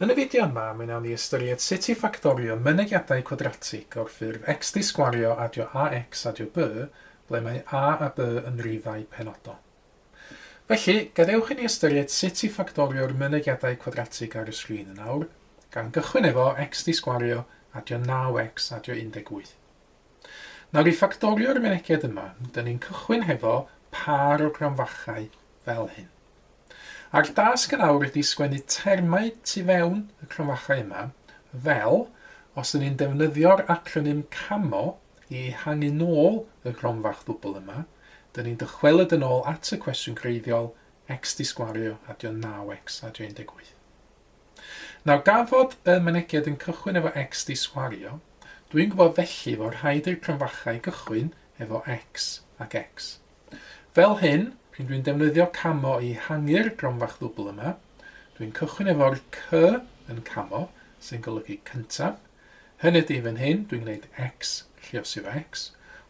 Yn y fideo yma, mi wnawn ni ystyried sut i ffactorio mynegiadau cwadratig o'r ffurf x di sgwario adio ax adio by ble mae a a by yn rifau penodol. Felly, gadewch i ni ystyried sut i ffactorio'r mynegiadau cwadratig ar y sgrin yn awr, gan gychwyn efo x di sgwario adio 9x adio 18. Nawr i ffactorio'r myneged yma, dyn ni'n cychwyn hefo pâr o gronfachau fel hyn. A'r dasg yn awr ydy sgwennu termau tu fewn y cronfachau yma, fel os dyn ni'n defnyddio'r acronym CAMO i ehangu nôl y gronfach ddwbl yma, dyn ni'n dychwelyd yn ôl at y cwestiwn greiddiol, x di sgwario adio 9x adio 18. Nawr gan fod y Mynegiad yn cychwyn efo X di swario, dw i'n gwybod felly fod rhaid i'r Crynfachau gychwyn efo X ac X. Fel hyn, p'un dw i'n defnyddio camo i hangu'r Gronfach Ddwbl yma, dw i'n cychwyn efo'r C yn camo, sy'n golygu cyntaf, hynny ydi fan hyn, dw i'n gwneud X, lluosio fo X,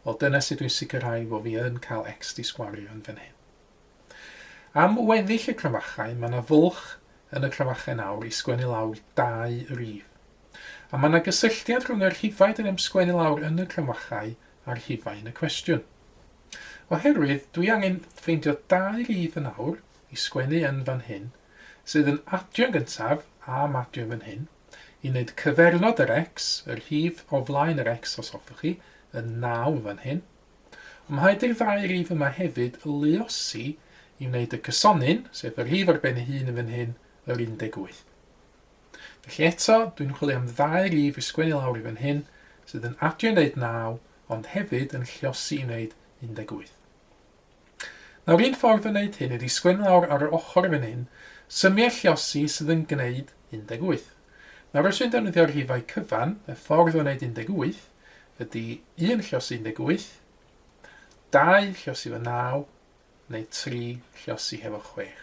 wel dyna sut dw i'n sicrhau fod fi yn cael X di swario yn fan hyn. Am weddill y cromachau, mae 'na fwlch yn y cromachau nawr i sgwennu lawr dau rif. A mae 'na gysylltiad rhwng y rhifau dyn ni'n sgwennu lawr yn y cromachau a'r rhifau yn y cwestiwn. Oherwydd, dwi angen ffeindio dau rif yn awr i sgwennu yn fan hyn, sydd yn adio'n gyntaf, a madio fan hyn, i wneud cyfernod yr x, y rhif o flaen yr x os hoffwch chi, yn 9 fan hyn. Ymhaid i'r ddau rif yma hefyd y luosi i wneud y cysonyn, sef y rhif ar ben ei hun yn fan hyn, yr 18. Felly eto, dwi'n chwilio am ddau rif i sgwennu lawr i fan hyn, sydd yn adio i wneud 9, ond hefyd yn lliosi i wneud 18. Nawr un ffordd o wneud hyn ydi sgwennu lawr ar yr ochr fan hyn, symiau lliosi sydd yn gwneud 18. Nawr os dwi'n defnyddio'r rhifau cyfan, y ffordd o wneud 18, ydy un lluosi 18, dau lluosi efo 9, neu tri lluosi hefo chwech.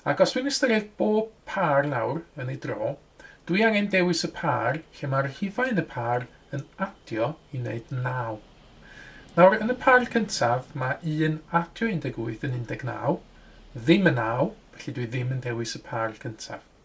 Ac os dwi'n ystyried bob pâr nawr yn ei dro, dwi angen dewis y pâr lle mae rhifau yn y pâr yn adio i wneud 9. Nawr, yn y pâr cyntaf, mae 1 adio 18 yn 19, ddim yn 9, felly dwi ddim yn dewis y pâr cyntaf.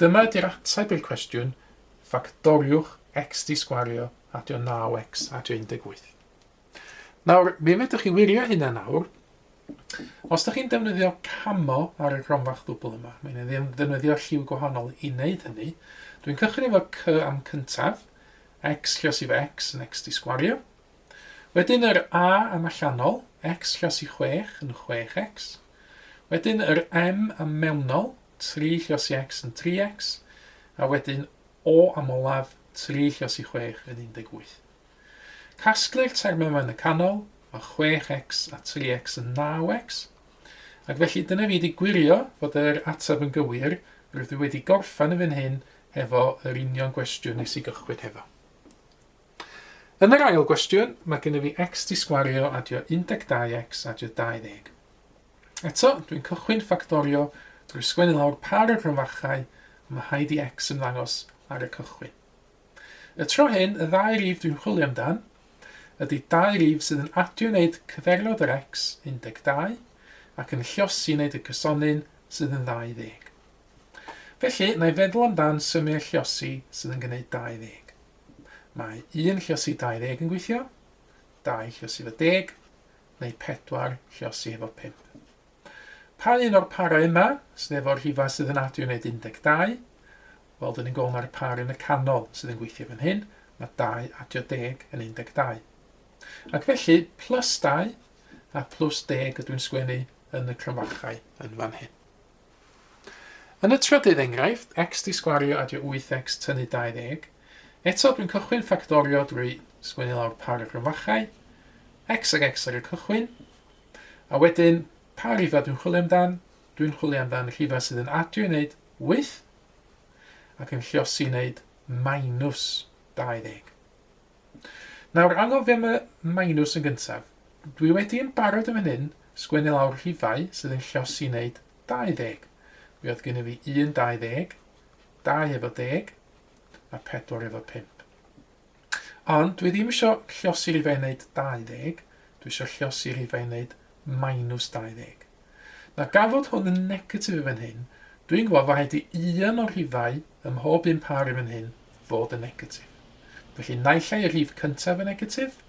Dyma ydy'r ateb i'r cwestiwn, ffactoriwch x di sgwario adio 9x adio 18. Nawr, mi fedrwch chi wirio hynna nawr. Os da chi'n defnyddio camo ar y gronfach ddwbl yma, mae'n ddefnyddio lliw gwahanol i wneud hynny. Dwi'n cychwyn efo c am cyntaf, x llos i fo x yn x di sgwario. Wedyn yr a am allanol, x llos i 6 yn 6x. Wedyn yr m am mewnol, tri lluosi X yn 3X, a wedyn O am olaf, tri lluosi chwech yn 18. Casglu'r termau yma yn y canol, mae 6X a 3X yn 9X, ac felly dyna fi wedi gwirio fod yr ateb yn gywir, rydw i wedi gorffen yn fan hyn hefo yr union gwestiwn nes i gychwyn hefo. Yn yr ail gwestiwn, mae gennym fi X 'di sgwario adio 12X adio 20. Eto, dwi'n cychwyn ffactorio drwy sgwennu lawr pa o'r rhyfarchau y mae rhaid i X ymddangos ar y cychwyn. Y tro hyn, y ddau rif dwi'n chwilio amdan ydy dau rif sydd yn adio i wneud cyfeirnod yr X, 12, ac yn lliosi i wneud y cysonyn sydd yn 20. Felly, na i feddwl amdan symiau lliosi sydd yn gwneud 20. Mae 1 lliosi 20 yn gweithio, 2 lliosi fo deg, neu pedwar lluosi efo pump. Pa un o'r parau yma sydd efo'r rhifau sydd yn adio i wneud 12? Wel, dyn ni'n gweld mae'r par yn y canol sydd yn gweithio fan hyn, mae 2 adio 10 yn 12. Ac felly, plus 2 a plus 10 ydw i'n sgwennu yn y cromfachau yn fan hyn. Yn y trydydd enghraifft, x di sgwario adio 8x tynnu 20, eto dwi'n cychwyn ffactorio drwy sgwennu lawr par y gryfachau, x ag x ar y cychwyn, a wedyn, pa rhifa dwi'n chwilio amdan? Dwi'n chwilio amdan rhifa sydd yn adio i wneud 8 ac yn lliosi i wneud minus 20. Nawr, angof fi am y minws yn gyntaf. Dwi wedi yn barod yn fan hyn sgwennu lawr rhifau sydd yn llosi wneud 20. Mi oedd gynnyf fi un 20, dau efo deg, a pedwar efo pump. Ond dwi ddim eisiau llosi rhifau wneud 20, dwi eisiau llosi rhifau wneud minus 20. Na gafodd hwn yn negatif i fan hyn, dwi'n gweld fod rhaid i un o'r rhifau ym mhob un pâr i fan hyn fod yn negatif. Felly naill ai y rhif cyntaf yn negatif,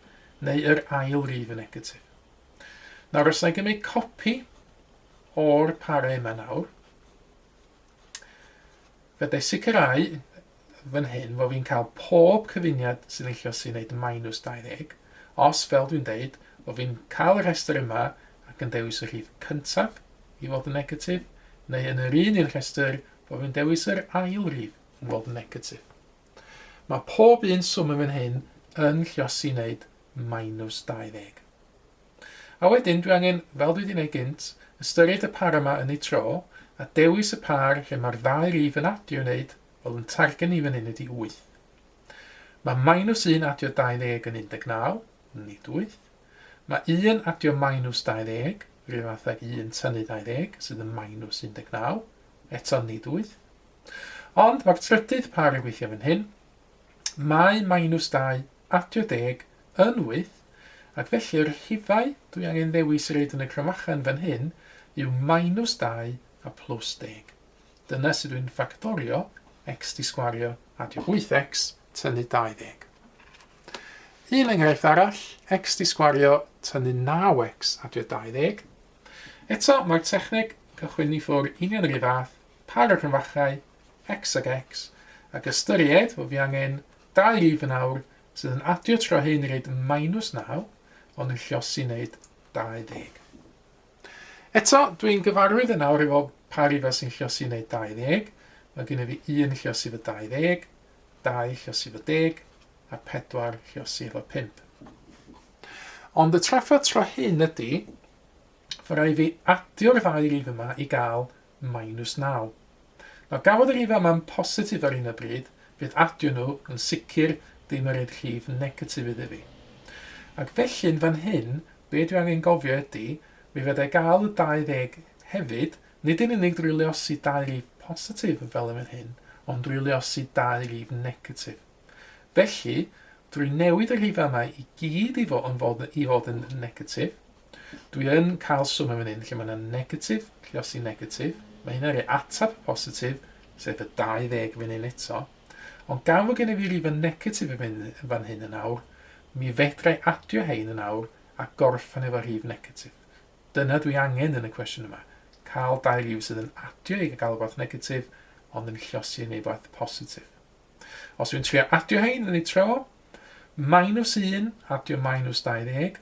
neu yr ail rif yn negatif. Nawr os na i gymryd copi o'r parau yma nawr, fe dau sicrhau fan hyn fo fi'n cael pob cyfuniad sy'n eillio sy'n neud minus 20, os, fel dwi'n deud, fo fi'n cael y rhestr yma ac yn dewis y rhif cyntaf i fod yn negatif, neu yn yr un un rhestr fo fi'n dewis yr ail rif i fod yn negatif. Mae pob un swm yn fan hyn yn llosi neud minus 20. A wedyn dwi angen, fel dwi 'di neud gynt, ystyried y par yma yn eu tro, a dewis y par lle ma'r ddau rif yn adio i neud, wel yn targen ni fan hyn ydi wyth. Ma' minus un adio 20 yn 19, nid wyth. Ma' un adio minus 20, yr un fath ag un tynnu 20, sydd yn minus 19, eto nid wyth. Ond ma'r trydydd par yn gweithio fan hyn, mae minus dau adio deg yn wyth, ac felly yr rhifau dwi angen ddewis i roid yn y cromachan fan hyn yw minus dau a plus deg. Dyna sut dwi'n ffactorio x di sgwario adio wyth x tynnu dau ddeg. Un enghraifft arall, x di sgwario tynnu naw x adio dau ddeg. Eto, mae'r techneg cychwyn i ffwr union yr un fath, par o cromfachau, x ag x, ac ystyried fod fi angen Dau rif yn awr sydd yn adio tro hyn i roid minus 9, ond yn llosi i wneud 20. Eto, dwi'n gyfarwydd yn awr efo pa rifau sy'n llosi i wneud 20. Mae gennyf fi 1 llosi fo 20, 2 llosi fo 10, a 4 llosi efo 5. Ond y trafferth tro hyn ydy, fy rai fi adio'r ddau rif yma i gael Minus naw. Nawr gafodd y rhif yma'n positif ar hyn o bryd, fydd adio nhw yn sicr ddim yn rhoid rhif negatif iddi fi. Ac felly yn fan hyn, be dwi angen gofio ydi, mi fedrai gael y 20 hefyd, nid yn unig drwy luosi dau rif positif fel yn fan hyn, ond drwy luosi dau rif negatif. Felly, drwy newid y rhifau yma i gyd i fod yn fod, i fod yn negatif, Dwi yn cael swno fan hyn lle mae 'na negatif, lle os ti'n negatif, mae hynna'n rhoi ateb positif, sef y 20 fan hyn eto. Ond gan fod gennyf fi rifa negatif yn fan hyn yn awr, mi fedra i adio hein yn awr a gorffen efo rhif negatif. Dyna dwi angen yn y cwestiwn yma, cael dau rif sydd yn adio i gael rhywbeth negatif, ond yn llosi yn ei rhywbeth positif. Os dwi'n trio adio hein yn ei tro, minus 1 adio minus 20,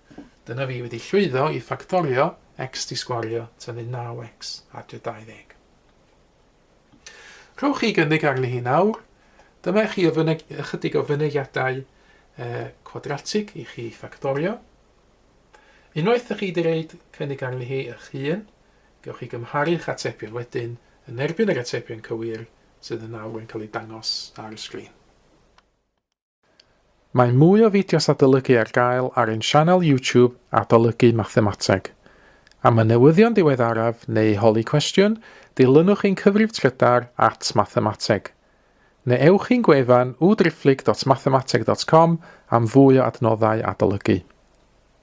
Dyna fi wedi llwyddo i ffactorio x di sgwario tynnu 9x adre 20. Rhowch chi gynnig arni hi nawr. Dyma i chi o fyneg, ychydig o fynegiadau e, cwadratig i chi ffactorio. Unwaith ydych chi wedi reid cynnig arni hi eich hun, gewch chi gymharu'ch atebion wedyn yn erbyn yr atebion cywir sydd yn awr yn cael eu dangos ar y sgrin. Mae mwy o fideos adolygu ar gael ar ein sianel YouTube Adolygu Mathemateg. Am y newyddion diweddaraf neu holi cwestiwn, dilynwch ein cyfrif trydar at Mathemateg. Neu ewch i'n gwefan www.driphlyg.mathemateg.com am fwy o adnoddau adolygu.